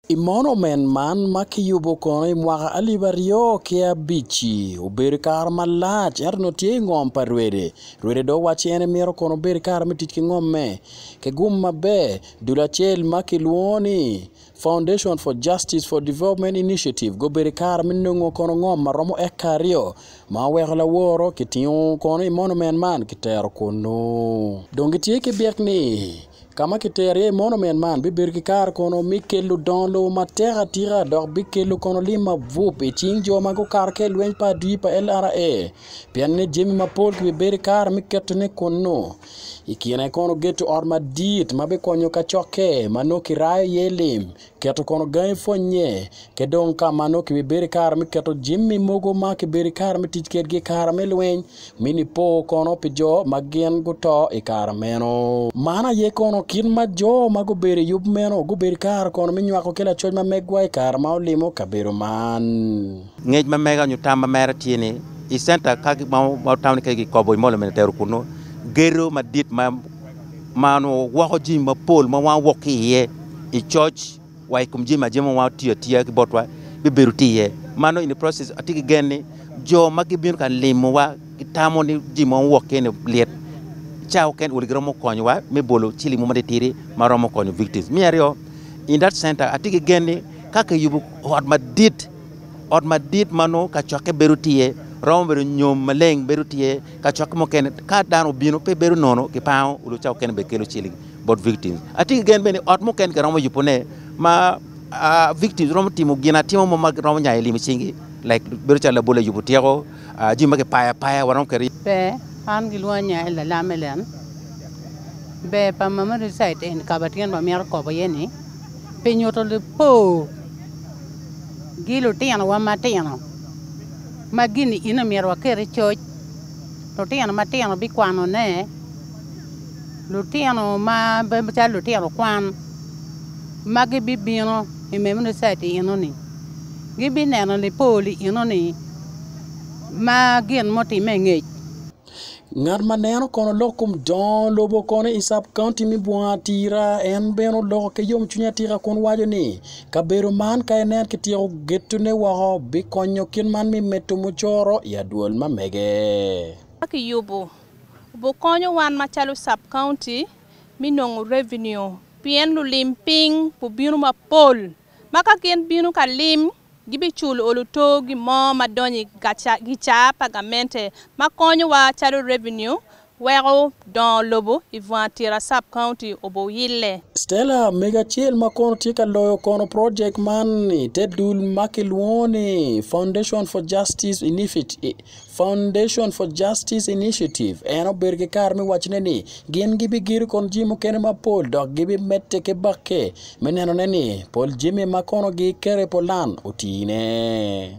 I monument man ma kiyubo kono i mwaka alip aryo ki abic-ci, obedo i kare malac ento nongo tye i ngom pa Rwede. Rwede dong owacci en emito kono obed i kare me tic ki ngomme. Kigum maber, dul acel ma kilwongo ni Foundation for Justice for Development Initiative gubedo i kare me nongo kono ngom ma romo eka aryo ma oweko laworo kitingo kono i monument man kitero kunnu. Dong gitye ki byek ni. Ka ma kitero iye monument man bibedo ki kare kono me kelo dongo lobo matek atika dok bikelo kono lim mabup i cing jo ma gukato ki i lweny pa adii pa LRA pienne jami mapol kibibedo ki kare me ketone kunnu. I kine kono geto ot madit ma bikonyo kacokke ma nongo kirayo iye lim. Keto kono gangi pwonnye, ki dong ka ma nongo kibibedo ki kare me keto jami mogo ma kibedo ki kare me tic kwedgi i kare me lweny, mi nipo kono pi jo ma gin guto i kare meno. Man aye kono kit ma jo ma gubedo i yub meno gubedo ki kare kono me nywako ki lacoc ma megwa i kare ma olimo kabedo man. Ngec ma mega nyo tam ma mere tye ni, i center ka ma otamo ni kadi kikobo i mall of Minetero kunnu, gedo madit ma. ma onongo woko jami mapol ma wan wok ki iye i coc wa i kom jami ma jami ma wan tiyo atiya ki botwa bibedo tye iye. Ma nongo in the process atye ki gen ni jo ma gibino ka limowa gitamo ni jami ma wok ki iye ni lit. Ca oken odi giromo konyowa me bolo ciling mo matitidi ma romo konyo victims. Me aryo, in that center atye ki gen ni ka kiyubo ot madit, ot madit ma nongo kacokke bedo tye iye, romo bedo nyom maleng bedo tye iye, Kacokke mukene ka dano obino pe bedo nono ki pango odoo ca okene bene kelo ciling bot victims. Atye ki gen bene ni ot mukene kiromo yubo ne ma victims romo timo gin atima mo ma romo nyayo lim icing gi like bedo calo labol ayubo tyeko jami ma kipayo apaya waromo keri. Ber an gilwonga ni Ael Lalam Ellen. Ber pa mama reside in kabatyen ba mito kobo iye ni pi nyuto lipor gi lutino wa matino. Ma gin-ni in omyero waket i coc, lutino matino bikwanone, lutino ma bedo calo lutino kwan ma gibibino i Memunicet i eno-ni, gibineno lipol i eno-ni ma gin mutimme i ngec. Ngat ma neno kono lok kom dongo lobo kono i cab kaunti me bunga atira en bene oloko ki yom cwiny atika kun waco ni kabedo man ka inen ki tyeko geto ne woko bikonyo kit man me medo mucoro i adwol ma mege. Ka ki yubo bukonyo wan ma calo cab kaunti me nongo revenue pien lulim piny bubino mapol ma ka gin bino ka lim Gibicul olu to gi mo ma donyo i gicaa pa gamente ma konyo wa calo revenue weko dongo lobo i Vwang Tira Sub County obo yille. Stella mege acel ma kono tye ka loyo kono project man i te dul ma kilwongo ni Foundation for Justice Initiative Foundation for Justice Initiative en obedo ki kare me waccone ni gin gibigedo kon jami mukene mapol dok gibimedde ki bakke me nenone ni pol jami ma kono giketo i pulan otine.